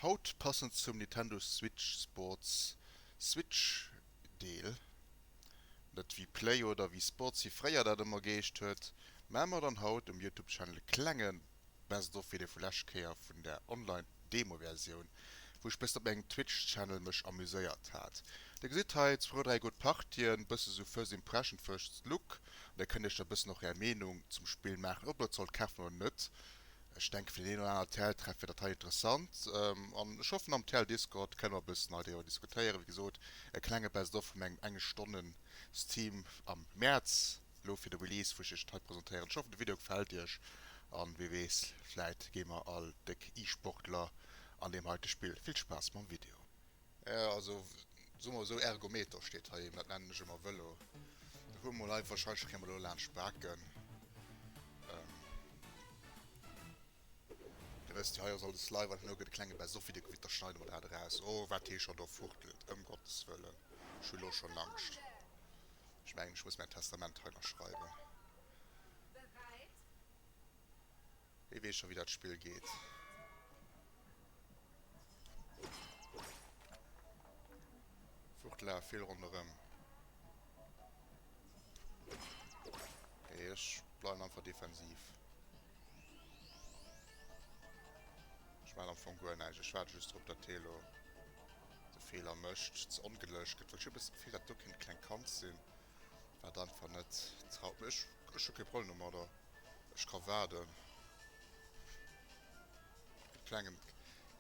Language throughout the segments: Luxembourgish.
Haut passend zum Nintendo Switch Sports Switch Deel, net wéi Play oder wéi Sports wéi fréier dat ëmmer geheescht huet, mä mer dann haut um Youtube Channel e klengen Best of Video vu läscht Kéier vun der online Demo Versioun wou ech bessen op mengem Twitch Channel mech amuséiert hat. Dir gesitt hei zwou oder dräi gutt Partien, bëssen sou first impression, first look an da kënnt iech da bëssen och är Meenung zum Spill maachen ob der et sollt kafen oder net. Ech denke fir den een oder aner TL Treff wier dat hei interessant an ech hoffen am TL Discord kënne mer bëssen hei driwwer diskutéieren. Wéi gesot e klenge Best of vu mengem eng Stonnen Steam am Mäerz. Elo fir de Release wou ech iech hei presentéieren. Ech hoffen de Video gefällt iech an wee wees vläit gi mer all déck E-Sportler an deem heite Spill. Vill Spaass mam Video. Also soe mer esou Ergometer steet hei, dat nennen ech emmer Velo. Dat hu mer mol hei, wahrscheinlech kréie mer do laanscht d'Baken. Dir wësst jo hei ass alles live an elo gëtt e klenge best of Video gewiert, da schneide mer dat eraus. Oh wat hie scho do fuchtelt, ëm Gottes Wëllen, ech hu elo schon Angscht. Ech mengen, ech muss mäin Testament hei ënnerschreiwen. Hie weess scho wéi dat Spill geet. Flucht laf vill ronderëm. Nee, ech bleiwen einfach defensiv. Ech maachen am Fong guer näischt. Ech waarde just drop, datt hie elo. de Feeler mécht, ze ongedëlleg gëtt, well ech hu e bëssen d'Gefill, dat do kéint e klengt Kand sinn, wat einfach net traut. Mee ech, ech hu kee Problem domadder, ech ka waarden. E klengen,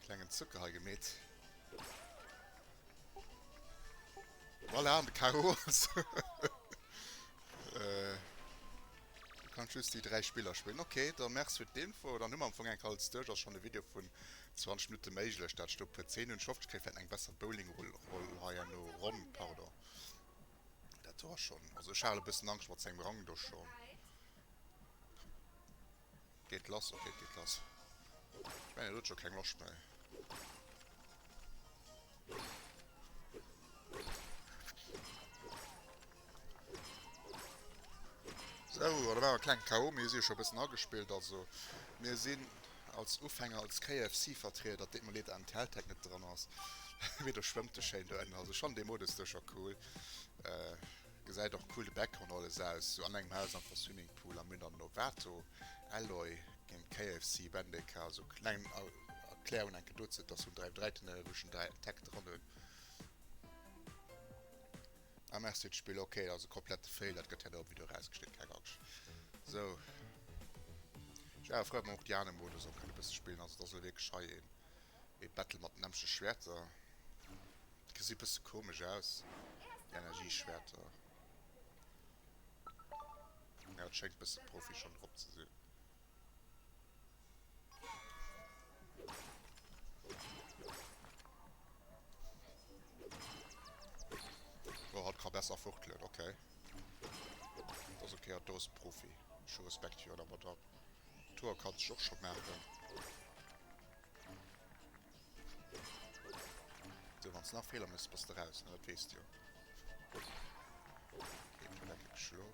klengen Zucker hei gemeet. Voilà, an de Karo ass. Du kanns just déi dräi Spiller spillen. Ok, da Merci fir d'Info. Dann hu mer am Fong enk alles duerch. Ass schonn e Video vun 20 Minutte méiglech, dat stoung puer 10 hunn d'Schoft kritt, wir hätten eng besser Bowlingroll heierno, Ronn, pardon, dat wor schonn, also ech haal e bëssen Angscht mat sengem Rang do schonn, geet lass, ok et geet lass, ech mengen et huet scho keng Loscht méi. Sou, dat war e kleng Chaos, mee ech si jo scho e bëssen agespillt. Also mir sinn als Ufänger, als KFC-Vertrieder, deet mer leed, datt den Telltag net dran ass, mee do schwëmmt e schéin doënner. Also ech fannen dee Modus do scho cool, gesäit och cool de Back an alles aus, sou an engem Haus am Fond Swimmingpool. A mir hunn dann Novato, Alloy géint KFC, Bendeca. Also kleng Erklärung enke dozou, datt hunn dräi Vdreitinne wou ech den Tag dran hunn. Ah merci et spill ok et ass e komplette fail dat gëtt herno am video erausgeschnidden keng angscht sou ech ware frou wann och déi aner modus och kënne bësse spillen also et ass elo wierklech hei een ee battle mat nämmleche schwerter gesi bësse komesch aus déi energieschwerter ja et schéngt bësse profi schonn drop ze sinn Oh, hatt ka besser fuchtelen, okay. Dat ass okay, hatt do ass e Profi. Ech hu Respekt fir hatt, awer dat do, hatt ka sech och scho maachen. So, wann s nach Feeler méchs, bass de raus, ne? Dat weess de jo. Okay, dat leck ech elo.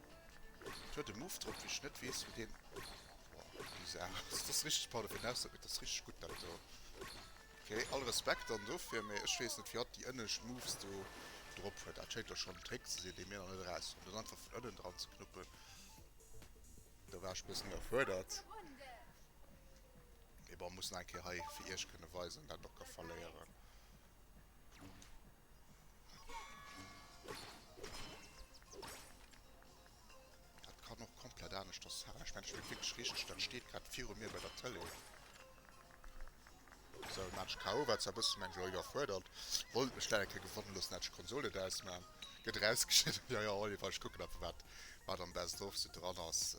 Et huet e Muff drop, wou ech net weess, wou deen... Boah, bizarr. Dat ass richteg Pardon fir den Ausdrock, mee dat ass richteg gutt, dat do. Okay, all Respekt dann dofir, mee ech weess net, firwat déi ënnescht Muffs do drop huet. Dat schéint da schonn en Trick ze sinn, dee mir nach net eraus hunn. Dat einfach vun ënnen dran ze knuppen, do war ech e bëssen iwwerfuerdert. Mee bon, muss nach eng Kéier hei fir Iech kënne weisen, dat och ka verléieren. Dat kann och komplett aneschters halen. Ech mengen, dat spillt wierklech richteg. Dat steet grad viru mir bei der Tëlee. Sou, en Match KO war zwar e bëssen, mengen ech, elo iwwerfuerdert. Wollt mech dat eng Kéier gewonnen loossen, hätt ech d'Konsole et ausmaach. Gëtt erausgeschnidden. Jo, jo, Oliver, ech kucken einfach, wat am Best of sou dran ass.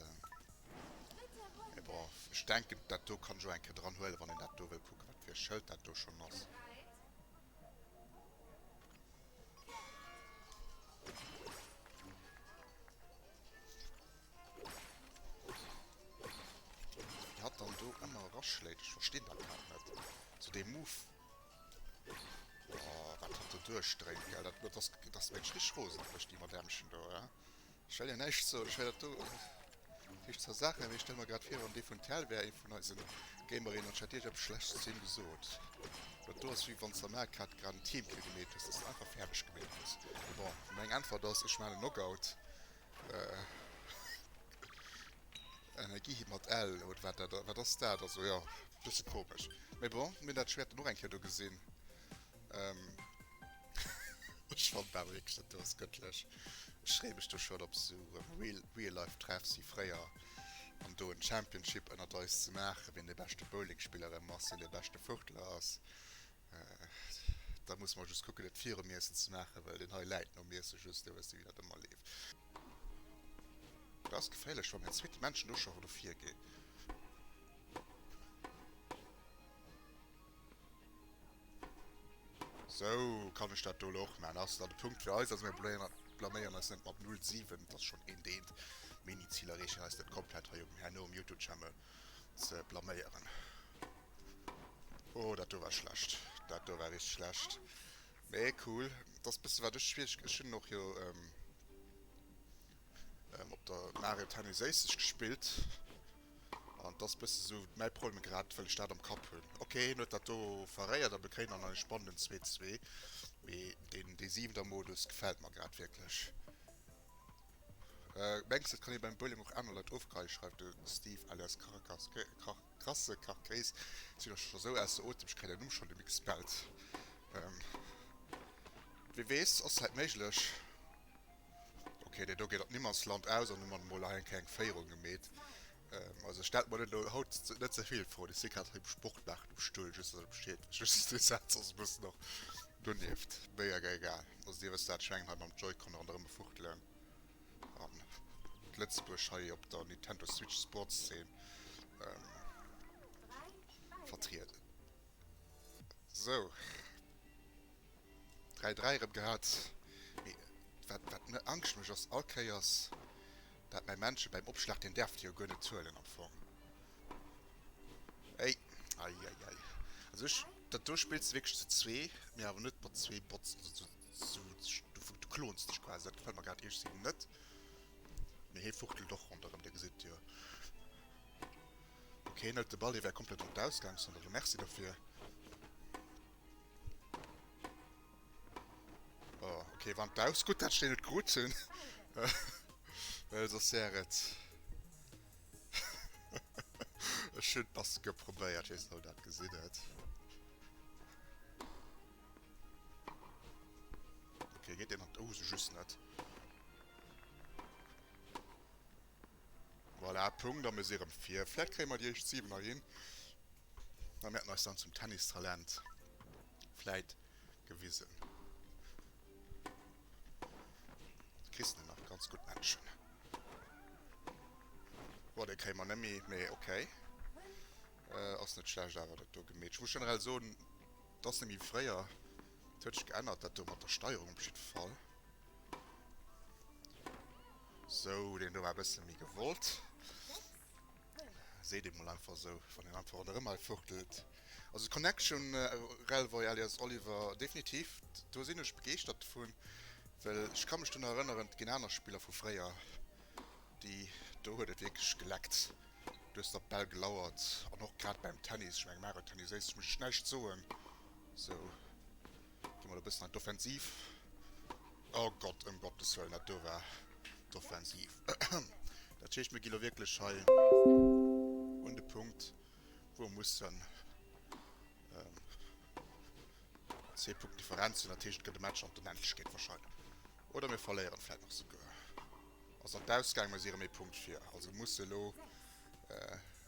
Mee bon, ech denken, dat do kann ech och eng Kéier dran huelen, wann een dat do wëll kucken, wat fir e Schëld dat do schonn ass. Wéi hatt dann do ëmmer eraschléit, ech verstinn dat grad net. Sou dee Move. Oh, wat hatt do duerchdréint, gell. Dat ass, dat ass mensch richteg rosen op mech, déi Madämmchen do, he. Ech well jo näischt soen, ech well dat do riicht zersachen, mee ech stelle mer grad vir, wann dee vun tel wär, ee vun eise Gamerinnen, an ech hätt Iech eppes Schlechtes zu him gesot. Dat do ass wéi wann s de am Arcade grad en Teamkill gemeet hues, dass de einfach fäerdeg gemeet hues. Bon, meng Äntwert ass, ech maan en Knockout. Energie hit mat L oder wat dat, wat ass dat? Also jo, bësse komesch, mee bon, mir hunn dat Schwäert dann och eng Kéier do gesinn, Ähm, ech fand dat wierklech net dooss gëttlech. Ech freeë mech do schon op sou real, real life Treffs wéi fréier an do en Championship ënnert eis ze maachen, wien de beschte Bowlingspiller erëm ass, wien de beschte Vurtler ass. Da musse mer just kucken et virum Iessen ze maachen, well deen hei läit nom Iessen just, da wëss de wéi dat ëmmer leeft. Dat ass geféierlech wann en zweete Menschen do schon do virgeet. Sou, kann ech dat do elo och maachen? Ass dann de Punkt fir eis. Also mir blaméieren eis net mat null 7, et ass schonn een Deent. Mini-Ziler reechen eis net komplett hei um herno um Youtube-Channel ze blaméieren. Oh, dat do war schlecht. Dat do war richteg schlecht. Mee cool. Et ass e bësse wat ech schwiereg. Ech hunn och jo. Ehm op der Mario Tennis Ace ech gespillt an dass bësse sou mäi Problem grad well ech dat am Kapp hunn. Ok hien huet dat do verréiert a mir kréien dann en spannenden zwee zwee mee den dee siwenter Modus gefält mer grad wierklech. Mengs et kann ee beim Bowling och aner Leit ofgeheie schreift de Steve alias Karakas Krasse Karkéis sinn och scho sou ausser Otem ech kréien däin Numm schonn nemme gespellt. Ehm wee weess ass hait méiglech. Ok, dei do geet an d'Niemandsland aus an hun mat mol eng kleng Féierung gemeet. Also stellt mer den haut net zevill fro, ech sin grad hei um Sport machen um Stull, just dass et besteet just den Satz ass e bëssen nach donieft, méi awer egal. Also dir wësst dat Scheng hei mam Joy-Con an der Rëmmefuchtelen an Lëtzebuerg hei op der Nintendo Switch Sports Zeen vertrieden. Sou. 3-3 erëm gehat, mee wat wat mir Angscht mécht ass all Kéiers dat mäi Männche bäim Opschlag, deen däerf et jo guer net zuelen am Fong, ey ei ei ei, also ech dat do spills de wierklech zu zwee, mee awer net mat zwee Bots, also du du du klonst dech quasi, dat gefält mer grad ierg si net, mee hie fuchtelt och ronderëm, dir gesitt jo, ok hien hëlt de Ball, hie war komplett an d'Ausgangszon, also merci derfir. Oh, okay, wann d'Baus gutt dat steen et krut hunn. Well sos wär et. Ech hunn d'Maske probéiert, ech weess net ob dat gesinn huet. Okay, geet deen an d'Hose just net. Voilà, Punkt, a mir si erëm vir. Vläicht kréie mer déi éischt 7er hin. Mä mir hätten eis dann zum Tennistalent vläit gewisen. Kriss de nach ganz gutt Menschen. Boah, dee kréie mer nemmi, mee okay. Ass net schlecht awer dat do gemeet. Ech muss generell soen, dass nemmi fréier. Dat huet sech geännert dat do mat der Steierung op jiddwer Fall. Sou, deen do war e bësse méi gewollt. Seet een mol einfach esou, wann een einfach an der Remail fuchtelt. Also Connection Rel Voi alias Oliver definitiv, do sinn ech begeeschtert dovun, well ech ka mech do nach erënneren, ginn aner Spiller vu fréier, déi do huet et wierklech geleckt, do hues de op d'Bäll gelauert an och grad beim Tennis, ech menge Mario Tennis Ace, muss ech näischt soen, sou. Gi mol e bëssen an d'Offensiv. Oh Gott, ëm Gottes Wëllen, dat do war d'Offensiv. Dat heescht, mir gi lo wierklech hei un de Punkt, wou mer mussen zwee Punkten Differenz hunn. Dat heescht, et gëtt e Match an d'Onendlechkeet warscheinlech. Oder mir verléieren vläicht nach souguer. Ass an d'Ausgaang, mä si erëm ee Punkt vir. Also musse lo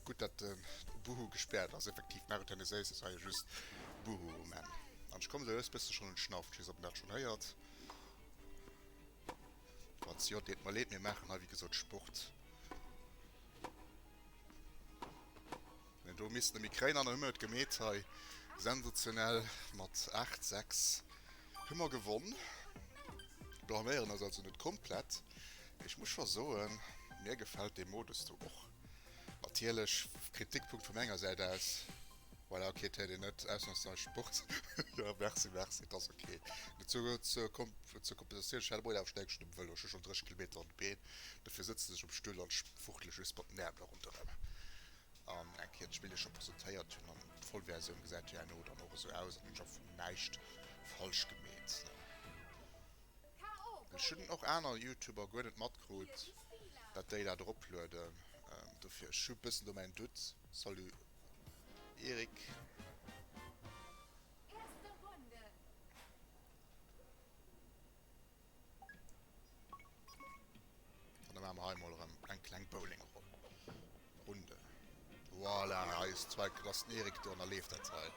Gudd dat den Boohoo gespärt ass, effektiv maach et hei net séiss, ass hei just Boohoo man an ech kommen, sou just bëssen schon en Schnaff, ech wees net op en dat schon héiert, falls jo deet mer leed, mir maachen hei wéi gesot Sport, den do misst e méi kréin an, hu mir et gemeet hei sensationell mat 8, 6. Hu mer gewonn. Blaméieren ass also net komplett. Ech muss scho soen, mir gefält dee Modus do och. Natierlech, Kritikpunkt vu menger Säit aus, voilà, ok, et huet een net ausnamsweis Sport, jo, merci, merci, et ass ok. Zur Kompensatioun, ech hat e Moien awer stäipesch dem Vëlo, ech hu schonn 30 Kilometer an de Been, dofir sëtzen ech um Stull an fuchtele just mat den Äermle ronderëm. an eng Kéier d'Spill scho presentéiert hunn an d'Vollversioun gesäit herno dann och esou aus an hunn scho vun näischt falsch gemeet. Ech hunn och aner Youtuber guer net matkrut dat déi dat eroplueden, dofir ech hu bëssen do mäin Doute. Salut Eric. Dann machen wir hier mal erëm eng kleng Bowlingrunde. Voilà, hei ist zwar klass Erik do an da leeft dat hei.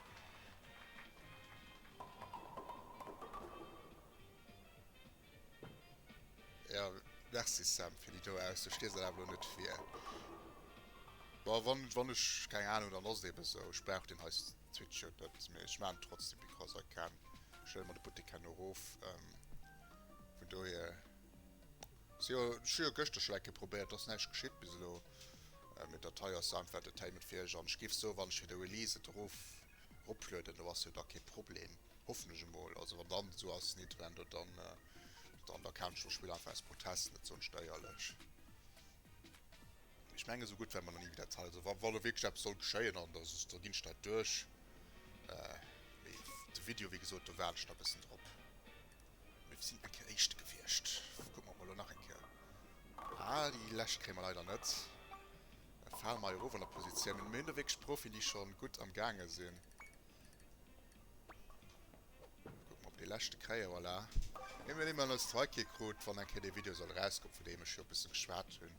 Ja, merci Sam fir déi do aus. Du stees dat awer elo net vir. Bon, wann, wann ech, keng Ahnung, dann ass et eben esou. Ech brauch deen hei. Switch huet net mee ech maan trotzdem because I can, stelle mer de Buttek herno roof vun dohier se jo ech hu jo geschter schon enke probéiert ass näischt geschitt bis elo mee dat hei ass einfach Entertainment fir iech an ech giff soe wann ech fir de Release et eroof eroplueden do ass jo da kee Problem hoffen ech emol also wann dann esou ass Nitwendo dann dann da kaafen ech mer Spill einfach aus Protest net soen steierlech. Ech mengen, esou gutt ware mer nach ni wéi dat hei. Also wa lo wierklech eppes soll geschéien an da ginn ech dat duerch. Mee de Video, wéi gesot, do waarden ech nach e bëssen drop. Mir sinn eng Kéier Éischte gewiescht. Kucke mer mol elo nach eng Kéier. Ah, déi lescht kréie mer leider net. Da fale mer hei erof an der Positioun. Mir hunn do wierklech Profien, déi scho gutt am Gaange sinn. Kucken op dee leschte kréien, voilà. Mir hunn ëmmer nees d'Frei kee krut, wann eng Kéier dee Video soll erauskommen, vun deem ech jo e bësse geschwat hunn.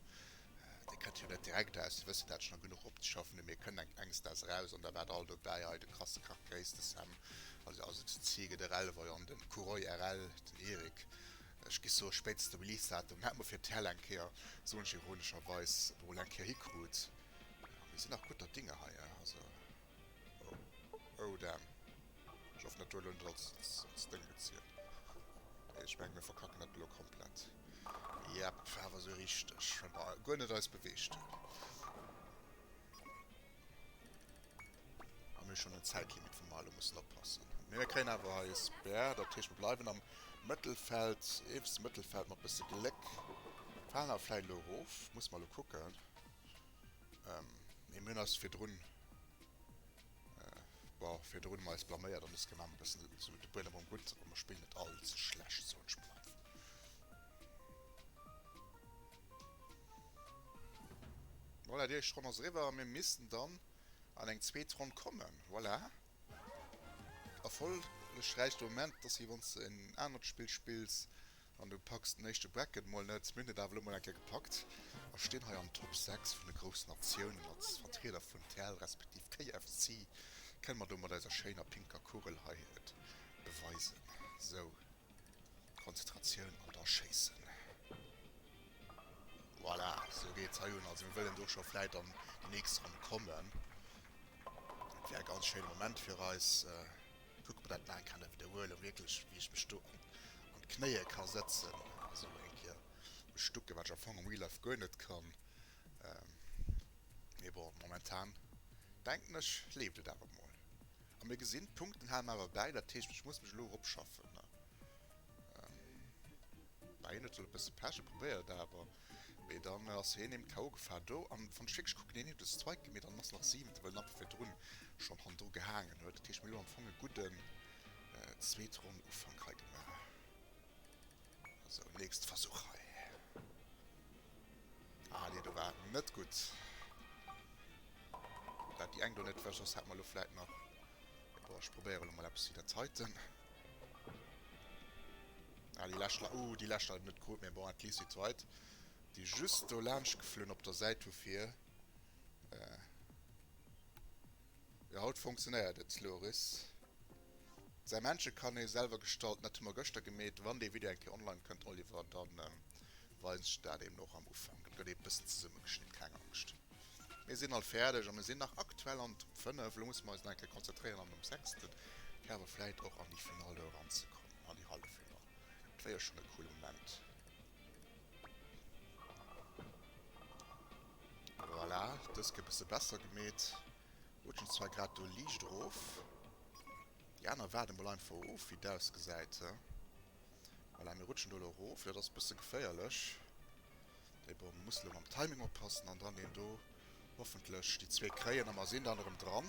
Dee kënnt jo net direkt aus, Dir wësst jo, dat ech nach genuch opzeschaffen hunn, mee e kënnt enk enges Daags eraus. An da war et alt dobäi, hei de Krass Krach Gréiss, de Sam, also also den Ziege, de Rellewei an den Kuroi RL, den Erik. Ech gi soe spéitstens de Release-Datum hätt mer fir d'Hell eng Kéier, soen ech ironescherweis, emol eng Kéier hikrut. A mir sinn nach gutter Dinge hei, also. Oh, oh damn. Ech hoffen dat huet elo net als Sténg gezielt. Ech mengen mir verkacken dat elo komplett. Yep, war awer sou richteg. Mä wa guer net eis beweegt hunn. A mir hu schonn en Zäitlimit wou mer elo mussen oppassen. Mee mir kréien awer hei e Spare, dat heescht mir bleiwen am Mëttelfeld, iewes Mëttelfeld, mat bësse Gléck falen awer vläit elo erof. Muss mer elo kucken. Ähm, mee mir hunn eis virdrun, boah, virdrun ëmmer eis blaméiert an eis Gemeng e bëssen esou de Buedem erëm gutt, awer mir spillen net all ze schlecht, soen ech mol einfach. Voilà, déi éischt Ronn ass eriwwer a mir missten dann an eng zweet Ronn kommen. Voilà. Erfollegräich de Moment ass wéi wann s de en anert Spill spills, An du packs den éischte Bracket mol net, mir hunn et awer elo mol eng Kéier gepackt a stinn hei an Top 6 vun de groussen Natiounen mat Vertrieder vun tel respektiv KFC. Kënne mer do mat eiser schéiner pinker Kugel hei et beweisen? Sou, Konzentratioun an da schéissen. Voilà, sou geet et hei un. Also mir wëllen do scho vläit an déi nächst Ronn kommen. Dat wär e ganz schéine Moment fir eis. Kuck mer dat nach eng Kéier net widderhuelen, wierklech wéi ech mech do an d'Knéie ka sëtzen a sou eng Kéier mech stucken, wat ech am Fong am Real Life guer net kann. Mee bon, momentan denken ech leeft et awer mol. A mir gesinn, d'Punkten hale mer awer bäi, dat heescht ech muss mech elo eropschaffen. Bei een huet elo e bësse Pech, e probéiert et awer. Mee dann ass heen em KO gefaal do an wann ech wierklech kucken, heen huet en Strike gemeet an ass nach siwente well en einfach virdrun schon han dru gehaangen huet. Dat heescht mir hu am Fong e gudden zweet Ronn Ufank hei gemaach. Sou nächste Versuch hei. Ah nee do war net gutt dat déi eng do net wech ass. Hat mer lo vläit nach, boah ech probéiere lo mol eppes wéi dat heiten. Ah déi lescht, oh déi lescht hat ech net krut, mee bon at least déi zweit déi just do laanscht geflunn op der Säit hu fir eh. Jo haut funktionéiert et Loris. Säi Männche kann ee selwer gestalt, dat hu mer gëschter gemeet. Wann dee Video eng Kéier online kënnt Oliver, dann weisen ech dat eben och am Ufank. Dat gëtt ee bëssen zesumme geschnitt, keng Angscht. Mir sinn alt fäerdeg a mir sinn nach aktuell an d'Top 5. Elo musse mer eis nach eng Kéier konzentréieren an um sechsten Kader vläit och an déi Final do eran ze kommen. An déi Halleffinall, et war jo schonn e coole Moment. Voilà, dës gëtt e bësse besser gemeet. Rutschen zwar grad do liicht erof. Déi aner waarde mol einfach of, wéi et ausgesäit. Voilà, mir rutschen do elo erof. Dat ass e bësse geféierlech. Mee bon, muss elo mam Timing oppassen an dann deen do. Hoffentlech déi zwee kréien a mer sinn dann erëm dran.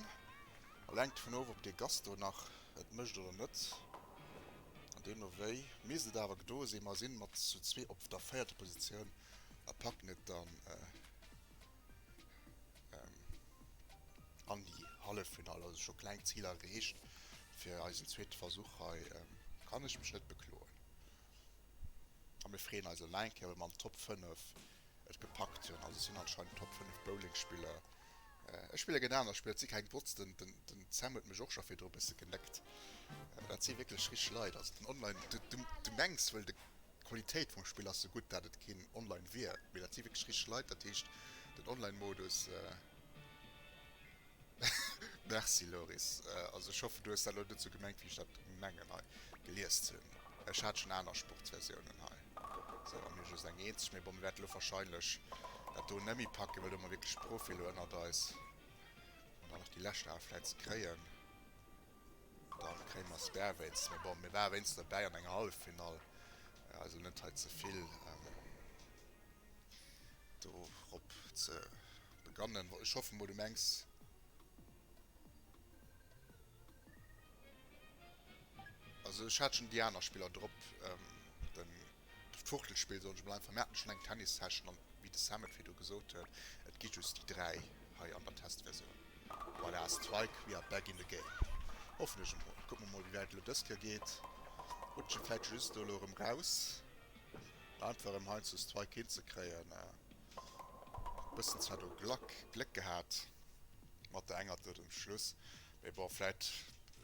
All hänkt dovun of, ob dee Gast do nach et mécht oder net. An deemno wéi misst et awer gedoe sinn. Mer si mat zu zwee op der véierter Positioun a packen et dann an déi Halleffinall. Also scho kleng Ziler erreecht fir eisen zweete Versuch hei. Kann ech mech net bekloen. A mir freeën eis eleng Kéier, wa mer an d'Top 5 et gepackt hunn. Also ech sinn anscheinend Top 5 Bowlingspiller. Ech spillen gen aner Spiller, et si keng Bots. Den den Sam huet mech och scho virdru bësse geneckt. Dat si wierklech rich Leit. Also den Online, du du du mengs wëll de d'Qualitéit vum Spill ass sou gutt, dat et keen Online wier. Mee dat si wierklech rich Leit. Dat heescht den Online-Modus. Merci Loris, also ech hoffen du hues dat elo net sou gemengt wéi ech dat mengen hei geliest hunn. Ech hat schonn aner Sportsversiounen hei sou a mir just eng eenzeg, mee bon mir wäerten elo wahrscheinlech dat do net méi packen, well do hu mer wierklech d'Profi elo ënnert eis an dann nach déi lescht Ae vläit ze kréien, da kréie mer se därwéinst. Mee bon, mir ware wéinstens dobäi an enger Halleffinall, also net hei ze vill dorop ze. Begannen, bon ech hoffen mol du mengs. Also ech hat schon déi aner Spiller drop, den d'Fuchtelspill soll ech mol einfach, mir haten schon eng Tennissession an wéi de Sam et virdu gesot huet, et gi just déi 3 hei an der Testversioun. Voilà, Strike, we are back in the game. Hoffen ech emol, kucke mer mol wéi wäit et elo dës Kéier geet, rutschen vläit just elo erëm raus, einfach erëm hei zu Strike hinzekréien. Bëssen zwar do Glack, Gléck gehat mat der enger do zum Schluss, mee bon, vläit,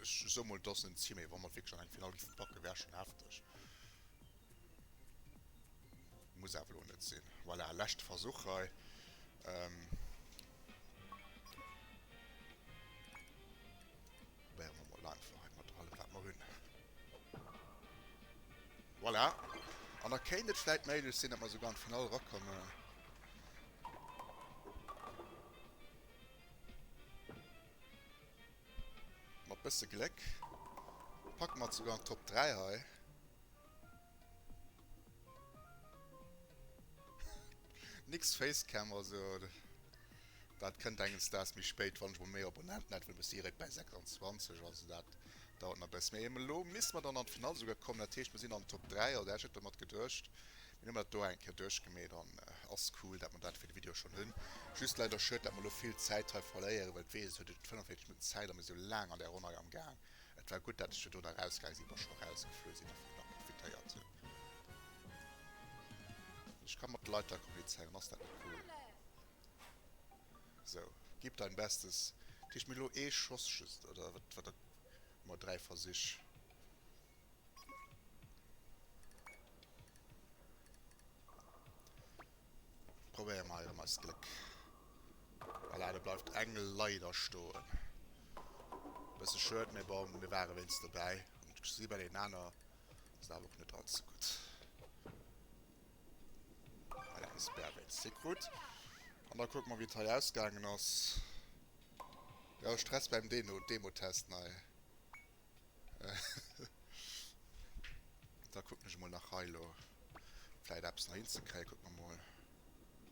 ech soe mol dass en Ziel, mee wa mer et wierklech an eng Final géife packe wär schonn hefteg. Muss awer elo net sinn. Voilà, leschte Versuch hei. Probéiere mer mol einfach hei mat allem wat mer hunn. Voilà. An da kéint et vläit méiglech sinn, datt mer esouguer an d'Finall erakommen. Mat bësse Gléck packe mer et esouguer an d'Top 3 hei. Nix Facecam also. Dat kënnt enges Daags méi spéit, wann ech mol méi Abonnenten hätt, well ech muss direkt bäi 26, also dat dauert nach e bëssen. Mee elo misste mer dann an d'Finall esouguer kommen, dat heescht, mer sinn an den Top 3, also ech hätt domat geduecht. Mir hu mer dat do eng Kéier duerchgemeet an ass cool, dat mer dat fir de Video schonn hunn. Just leider schued, dat mer elo vill Zäit hei verléieren, well et weess ech, huet et 45 Minutten Zäit a mir si laang an där Ronn hei am Gaang. Et war gutt, dat ech virdu nach erausgaang sinn, wa scho erausgeflu sinn, a virdu nach profitéiert hunn. Ech ka mat de Leit hei kommunizéieren, ass dat net cool? Sou, gib dein Bestes. Kriegt mir elo ee Schoss just, oder wat? Wat dat? Mol dräi Versich. Probéiere mer erëm eist Gléck. Voilà, do bleift eng leider stoen. Bësse schued, mee bon, mir ware wéinst dobäi. An d'Gesit bei deenen aner ass awer och net all ze gutt. Voilà, de Sperr wéi ze si krut. An da kucke mer, wéi et hei ausgaangen ass. Jo, Stress beim Deno, Demotest nei. Da kucken ech emol nach hei elo vläit eppes nach hinzekréien. Kucke mer emol.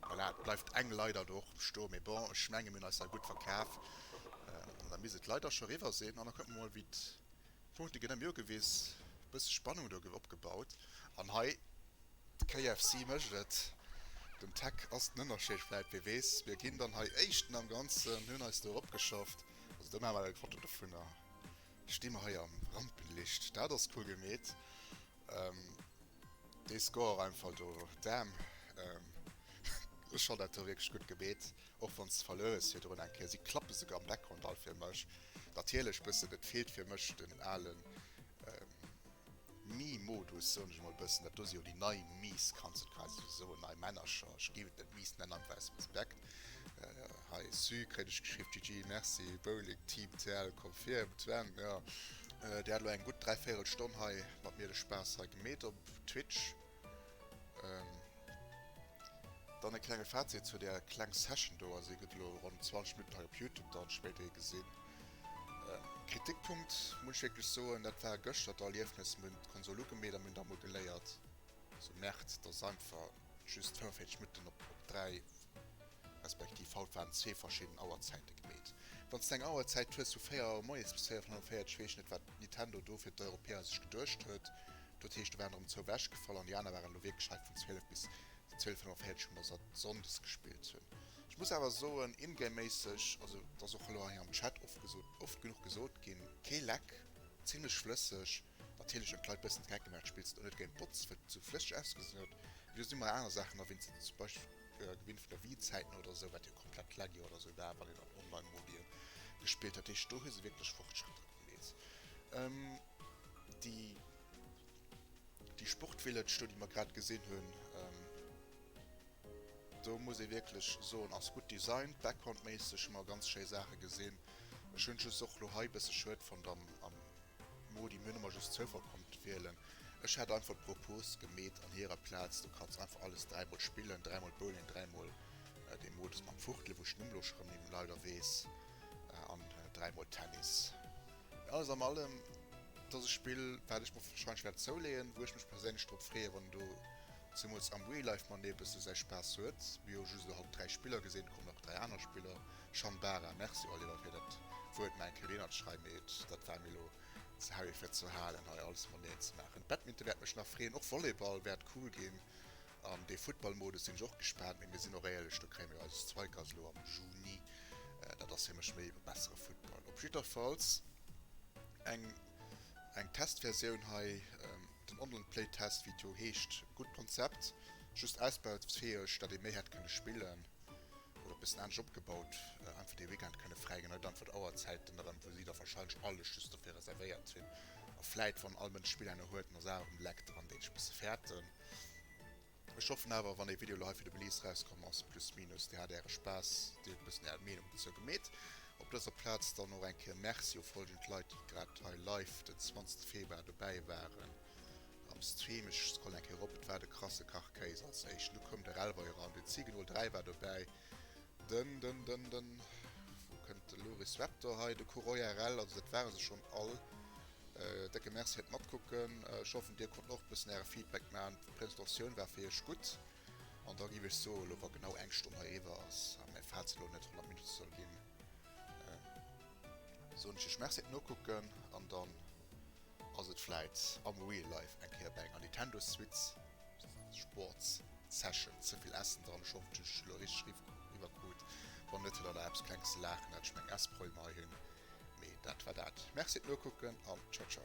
Voilà, et bleift eng Leiter do och bestoen. Mee bon, ech menge mir hunn eis hei gutt verkaf. Da misst et leider scho eriwwer sinn. An da kucke mer emol, wéi Punkte ginn ëm Joer gewiss, e bësse Spannung do gouf opgebaut an hei de KFC mécht et. Dem Tech ass den Ënnerscheed vläit, wee weess. Mir ginn dann hei Éischten am Ganzen, hunn eis do eropgeschafft. Also do maache mer eng Foto dovun a sti mer hei am Rampenlicht. Dat ass cool gemeet. Dee Score einfach do, Damn. Ech fonnt dat do wierklech gutt gemeet. Och wann s verluer s virdrun eng Kéier, si klappe souguer am Background all fir mech. Natierlech bëssen, et feelt fir mech den alen Me Modus, soen ech mol bëssen. Dat do si jo déi nei Me's, kanns et quasi sou soen, nei Männercher. Ech géif et net Me's nennen, einfach aus Respekt. Hei Su kréien ech geschriww, GG, Merci, Bowling Team TL confirmed, Sven, jo, där hat elo eng gutt dräivéierel Stonn hei mat mir de Spaass hei gemeet op Twitch. Dann e klenge Fazit zu där kleng Session do, also hie gëtt elo ronn 20 Minutten hei op Youtube dann spéider ee gesinn. Kritikpunkt muss ech wierklech soen, dat war gëschter d'Erliefnes, mir hunn d'Konsol ugemeet a mir hunn da mol geléiert, se merkt dass einfach just 45 Minutten op 3 respektiv haut waren zwee verschidden Auerzäite gemeet. Wann s de eng Auerzäit hues vu 4 Auer moies bis 4 Auer 45, weess ech net wat Nintendo do fir d'Europäer sech geduecht huet, Dat heescht, do waren der ëm zwou ewech gefall an déi aner waren elo wierklech hei vun 12 bis 12.45 hu mer se Sonndes gespillt hunn. Ech muss awer soen, in-game-méisseg, also et ass och elo hei am Chat oft gesot, oft genuch gesot ginn, kee Leck, zimlech flësseg. Natierlech hunn d'Leit bëssen d'Geck gemaach, spills et och net géint d'Bots, well et esou flësseg ausgesinn huet, mee do si mer aner Saachen erwinnt ze zum Beispill gewinnt vun der Wii-Zäit no oder esou, wat jo komplett laggy oder esou war, wann een dat online mobil gespillt huet. Dat heescht, do hu se wierklech Fortschrëtter. Please. Ähm, déi, déi Sportvillage do, déi mer grad gesinn hunn, ähm, do muss ee wierklech soen, ass gutt designt, backgroundméisseg hu mer ganz schéi Saache gesinn. Ech hunn just och lo hei e bësse schued fonnt am, am Modi, mir hunn ëmmer just Zoufall konnt wielen. Ech hätt einfach d'Propos gemeet, an hirer Plaz, du kanns einfach alles dräimol spillen, dräimol Bowling, dräimol dee Modus mam Fuchtelen, wou ech d'Numm elo scho erëm ni méi leider weess. An dräi mol Tennis. Alles am allem ass et e Spill, wat ech mer warscheinlech wäert zouleeën, wou ech mech perséinlech drop freeë wann do zemools am Real Life mat ee bësse säi Spaass huet. Mir hu just elo haut dräi Spiller gesinn, et kommen nach dräi aner Spiller. Shambara, Merci Oliver fir dat Wuert, mä enke reenert schrei, mee et dat war mir elo ze heavy fir ze halen hei alles rondereen ze maachen. Badminton wäert mech nach freeën, och Volleyball wäert cool ginn. An dee Futtballmodus sinn ech och gespaant, mee mir sinn och éierlech, do kréie mir eis Zweikers elo am Juni. Dat ass fir mech méi e bessere Futtball. Op jidderfalls eng eng Testversioun hei, den Online Play Test wéi et jo heescht. Gutt Konzept, just ausbaufäeg, datt ee méi hätt kënne spillen oder e bëssen anescht opgebaut, einfach dee Weekend kënne fräi ginn. Hei dann fir d'Auerzäiten erëm, wou si da wahrscheinlech alles just dofir reservéiert sinn. A vläit, wann all Mënsch Spiller no huet, nach Saachen um Leck dran, déi ech e bësse fäerten. Ech hoffen awer wann dee Video lo hei fir de Release rauskomm ass plus minus dir hat äre Spaass, dir hutt e bëssen är Meenung dozou gemeet. Op dëser Plaz dann och eng Kéier Merci u folgend Leit déi grad hei live den 20 Februar dobäi waren am Stream. Ech scrollen eng Kéier erop, et war de Krasse Kach Kéis als éischten, du koum de Relvoi eran, den Zigenol 3 war dobäi, den den den den wou kënnt de Loris Raptor hei, de Kuroya rel, also dat ware se schonn all. Décke Merci fir d'Matkucken. Ech hoffen dir konnten och bëssen äre Feedback man. D'Präsentatioun war fir iech gutt an da giff ech soen, elo wa genau eng Stonn heriwwer ass a mäi Fazit elo net 100 Minutte soll ginn, soen ech iech Merci fir d'Nokucken an dann ass et vläit am Real Life eng Kéier bei enger Nintendo Switch Sports Session. Ze vill Ässen dran? Ech hoffen ech hunn ech elo richteg riwwer krut. Wann net huet der nach eppes klenges ze laachen, hat ech meng Essproblem hei hunn. Mee dat war dat. Merci et nokucken an ciao ciao.